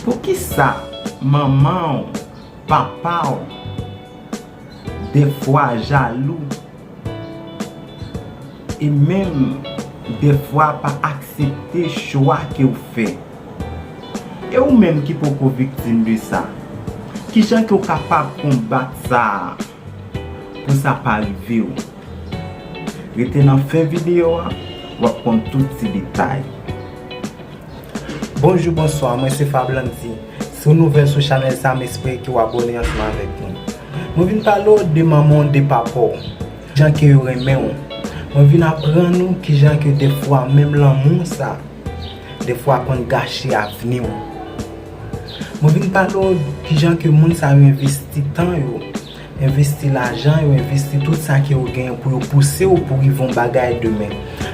Poukisa manman w, papa w dèfwa jalou e menm dèfwa pa aksepte chwa ke w fè? E ou menm ki poko viktim de sa, kijan ke w kapab konbat sa pou sa pa rive w? Rete nan fen videyo a, w ap konn tout ti detay. Bonjou bonswa mwen se Fablandy si w nouvèl sou chanèl sa m espere ke w abone ansanm avèk nou mwen vin pale w de manman w de papa w jan ke yo renmen w mwen vin aprann ou kijan ke defwa menm lanmou sa defwa konn gache avni w mwen vin pale w kijan ke moun sa yo envesti tan yo Envesti lajan yo, envesti tout sa ke yo genyen pou yo pouse ou pou rive yon bagay demen.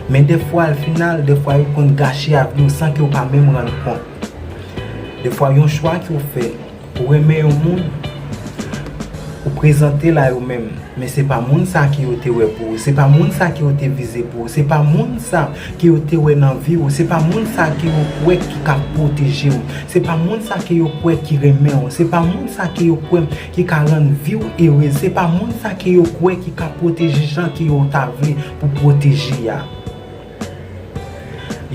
Men defwa al final, defwa yo konn gache avni ou san ke ou pa menm rann kont. Defwa yon chwa ke ou fè, ou renmen yon moun, ou prezante l a yo menm, men se pa moun sa ke yo te wè pou ou, se pa moun sa ke yo te vize pou ou, se pa moun sa ke yo te wè nan vi ou, se pa moun sa ke yo kwè ki ka pwoteje ou, se pa moun sa ke yo kwè ki renmen ou, se pa moun sa ke yo kwè ki ka rann vi w ere se pa moun sa ke yo kwè ki ka pwoteje jan ke yo ta vle pou pwoteje a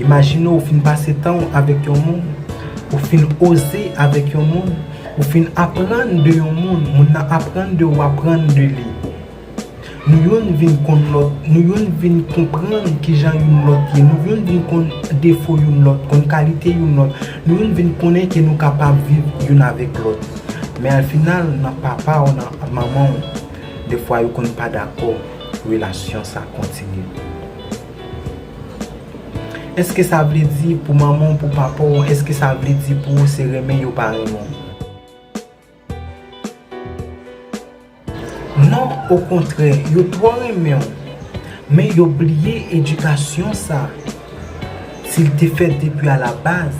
imajine ou fin pase tan w avèk yon moun ou fin oze avèk yon moun ou fin aprann de yon moun moun nan aprann de ou aprann de li. Nou youn vin konn lòt, nou youn vin konprann kijan youn lòt ye, nou youn vin konn defo youn lòt, konn kalite youn lòt, nou youn vin konnen ke nou kapab viv youn avèk lòt. Men al final nan papa w nan manman w de fwa yo konn pa dakò relasyon sa kontinye. Eske sa vle di pou manman w pou papa w eske sa vle di pou ou se renmen yo pa renmen w? Non okontrè yo twò renmenw men yo bliye edikasyon sa sil te fèt depi a la baz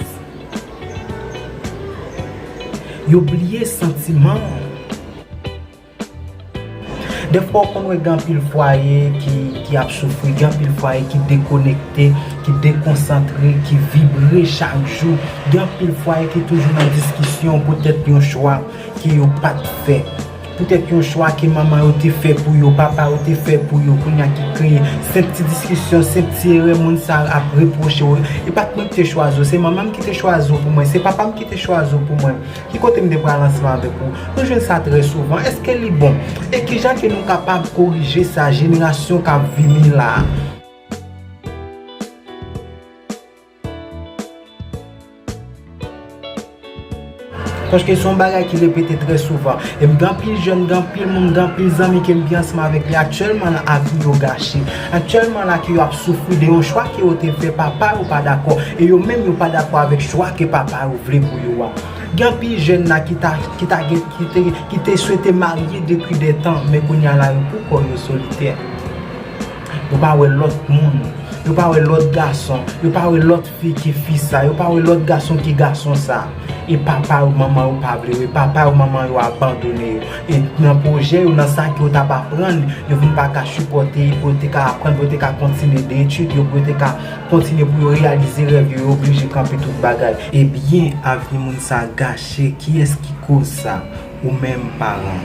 yo bliye santimanw. Defwa ou konn wè gen anpil fwaye ki ap soufri, gen anpil fwaye ki dekonekte, ki dekonsantre, ki vibre chak jou, gen anpil fwaye ki toujou nan diskisyon poutèt yon chwa ke yo pa t fè, poutèt yon chwa ke manman yo te fè pou yo, papa yo te fè pou yo, kounye a ki kreye senp ti diskisyon, senp ti erè moun sa a ap repwoche ou, e pa t mwen ki te chwazi w, se manman m ki te chwazi w pou mwen, se papa m ki te chwazi w pou mwen. Ki kote m te pran lansman avèk ou? Nou jwenn sa trè souvan. Èske li bon? E ki jan ke nou kapab korije sa jenerasyon k ap vini la a? Paske se yon bagay ki repete trè souvan. E m gen anpil jèn, gen anpil moun, gen anpil zanmi ke m gen ansanm avèk li aktyèlman la, avi yo gache. Aktyèlman la ke yo ap soufri de yon chwa ke yo te fè papa yo pa dakò e yo menm yo pa dakò avèk chwa ke papa yo vle pou yo a. Gen anpil jèn la ki ta ki ta gen ki te ki te swete marye depi de tan men kounye a la yo pou kò yo solitè. Yo pa wè lòt moun. Yo pa wè lòt gason. Yo pa wè lòt. Piti fi sa yo pa wè lòt gason ki gason sa e papa yo manman yo pa vle yo e papa yo manman yo abandone yo e nan pwojè yo nan sa ki yo tap aprann yo vin pa ka sipòte pou yo te ka aprann pou yo te ka kontinye de etid yo pou yo te ka kontinye pou yo reyalize rèv yo yo oblije kanpe tout bagay ebyen avni moun sa gache kiyès ki koz sa ou menm paran.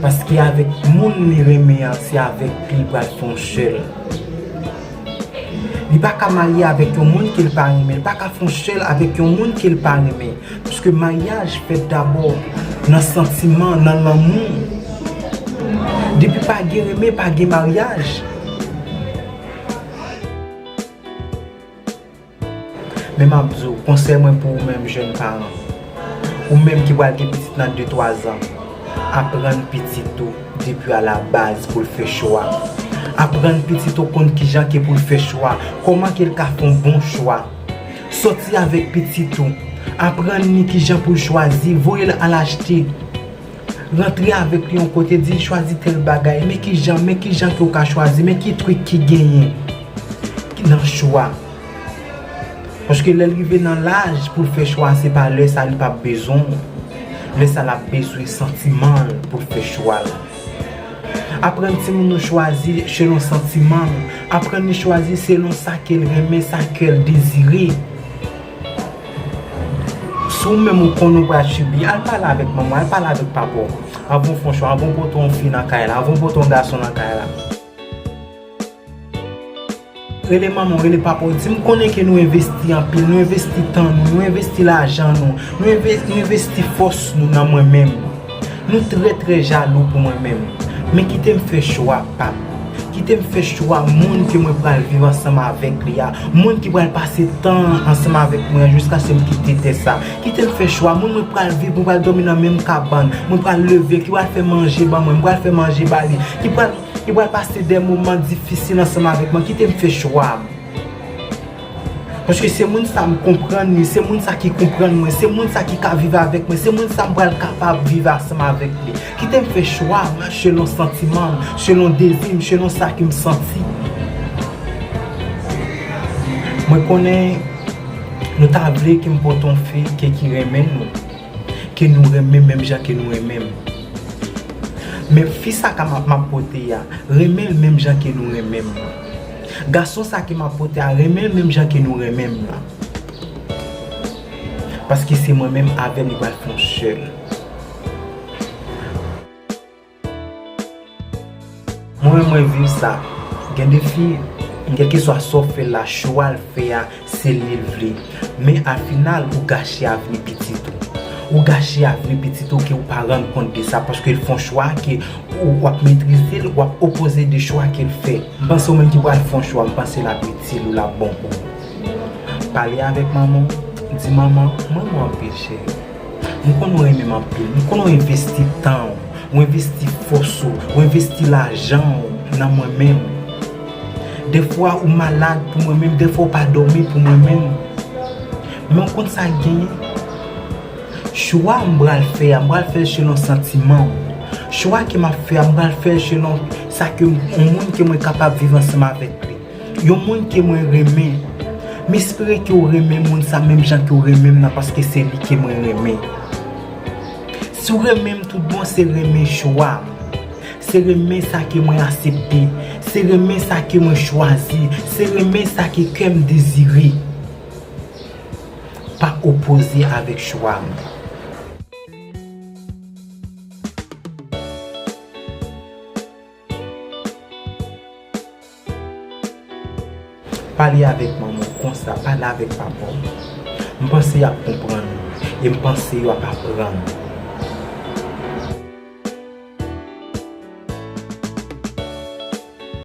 Paske avèk moun li renmen an se avèk li pral fon sèl. Li pa ka marye avèk yon moun ke l pa renmen, li pa ka fon sèl avèk yon moun ke l pa renmen. Paske maryaj fèt dabò nan santiman, nan lanmou. Depi pa gen renmen, pa gen maryaj. Men m ap di w, konsèy mwen pou ou menm jèn paran, ou menm ki pral gen pitit nan de twa zan, aprann pitit ou depi a la baz pou l fè chwa. Aprann pitit ou konn kijan ke pou l fè chwa, kòman ke l ka fè yon bon chwa. Sòti avèk pitit ou, aprann li kijan pou l chwazi, voye l al achte. Rantre avèk li yon kote, di l chwazi tèl bagay, men kijan, men kijan ke w ka chwazi, men ki trik ki genyen nan chwa. Paske lè l rive nan laj pou l fè chwa a, se pa lè sa li pa p bezwen w. Lè sa l ap bezwen santiman l pou l fè chwa l. Aprann timoun nou chwazi selon santiman l. Aprann li chwazi selon sa ke l renmen, sa kè l dezire. Si ou menm ou konnen ou pral sibi, al pale avèk manman w, al pale avèk papa w. Anvan ou fè yon chwa, anvan ou pote yon fi nan kay la, anvan ou pote yon gason nan kay la. Rele manman w, rele papa w, di m konnen ke nou envesti anpil, nou envesti tan nou, nou envesti lajan nou, nou envesti fòs nou nan mwen menm. Nou trè trè jalou pou mwen menm. Men kite m fè chwa pa m. Kite m fè chwa moun ke mwen pral viv ansanm avèk li a. Moun ki pral pase tan an ansanm avèk mwen an jiskase m kite tè sa. Kite m fè chwa moun mwen pral viv, mwen pral dòmi nan menm kabann, mwen pral leve, ki pral fè manje ban mwen, mwen pral fè manje ba li, ki pral pase de moman difisil ansanm avèk mwen. Kite m fè chwa m. Paske se moun sa m konprann li, se moun sa ki konprann mwen, se moun sa ki ka viv avèk mwen, se moun sa m pral kapab viv ansanm avèk li. Kite m fè chwa mwen selon santiman m, selon dezi m, selon sa ke m santi. Mwen konnen nou ta vle ke m pot yon fi ke ki renmen nou, ke nou renmen menm jan ke nou renmen m. Men fi sa ka m ap pote a, renmen l menm jan ke nou renmen m. Gason sa ke map vote a renmen l menm jan ke nou renmen m lan. Paske se mwen menm avèl li pral fè yon sèl. Mwen menm mwen viv sa. Gen de fi, kelkeswa sa w fè l la, chwa l fè a, Se li l vle. Men a final ou gache avni pitit ou. Ou gache avni pitit ou ke ou pa rann kont de sa paske l fon chwa ke ou w ap metrize l, w ap opoze de chwa ke l fè. M panse ou menm ki pral fon chwa m panse l ap itil ou l ap bon pou ou. Pale avèk manman w, di manman mwen renmen w anpil cheri. M konnen w renmen m anpil. M konnen w envesti tan w, w envesti fòs ou, w envesti lajan w nan mwen menm. Dèfwa ou malad pou mwen menm, dèfwa ou pa dòmi pou mwen menm. Men w konn sa k genyen? Chwa m pral fè a, m pral fè l selon santiman m. Chwa ke m ap fè a, m pral fè l selon sa ke, yon moun ke mwen kapab viv ansanm avèk li. Yon moun ke mwen renmen. M espere ke w renmen moun sa menm jan ke w renmen m nan paske se li ke mwen renmen. Si w renmen m tout bon se renmen chwa m. Se renmen sa ke mwen asepte. Se renmen sa ke mwen chwazi. Se renmen sa ke kè m dezire. Pa opoze avèk chwa m. Pale avèk manman w konsa, pale avèk papa w. M panse y ap konprann ou e m panse yo ap aprann ou.